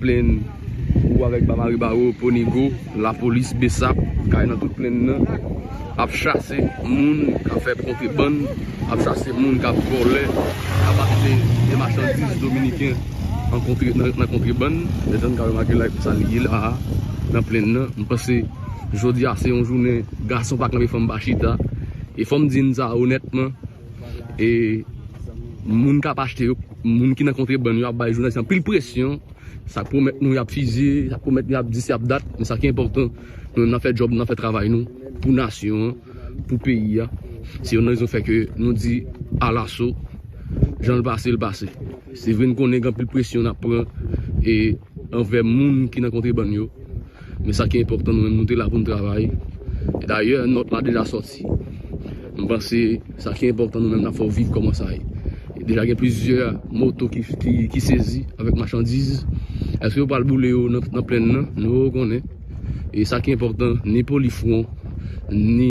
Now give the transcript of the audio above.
Plenn ou avèk Bamari Baro, Ponigo, lapolis bsap kay nan tout plenn nan ap chase moun kap fè kontrebann, ap chase moun kap vòlè, kap achte de machandiz dominiken nan kontrebann. Jan nou ka remake la epi sa li ye la a nan plenn nan. M panse jodi a se yon jounen gason pa kanpe fanm pa chita. E fò m di n sa onètman, E moun kap achte yo, moun ki nan kontrebann yo ap bay jounalis anpil presyon, sa yo pwomèt nou yap fizye, sa yo pwomèt nou yap dis yap dat, men sa ki enpòtan nou menm nan fè djòb nou nan fè travay nou pou nasyon an, pou peyi a, se youn nan rezon fè ke nou di alaso janl pase l pase. Se vre n konnen gen anpil presyon nap pran e anvè moun ki nan kontrebann yo, Men sa ki enpòtan nou menm nou te la pou n travay. Dayè nòt la deja sòti. M panse sa ki enpòtan nou menm n ap fè w viv kòman sa ye. Deja gen plizyè moto ki sezi avèk machandiz. Èske yo pral boule yo nan plenn nan? Nou pa ko konnen. E sa ki enpòtan ni polifwon ni.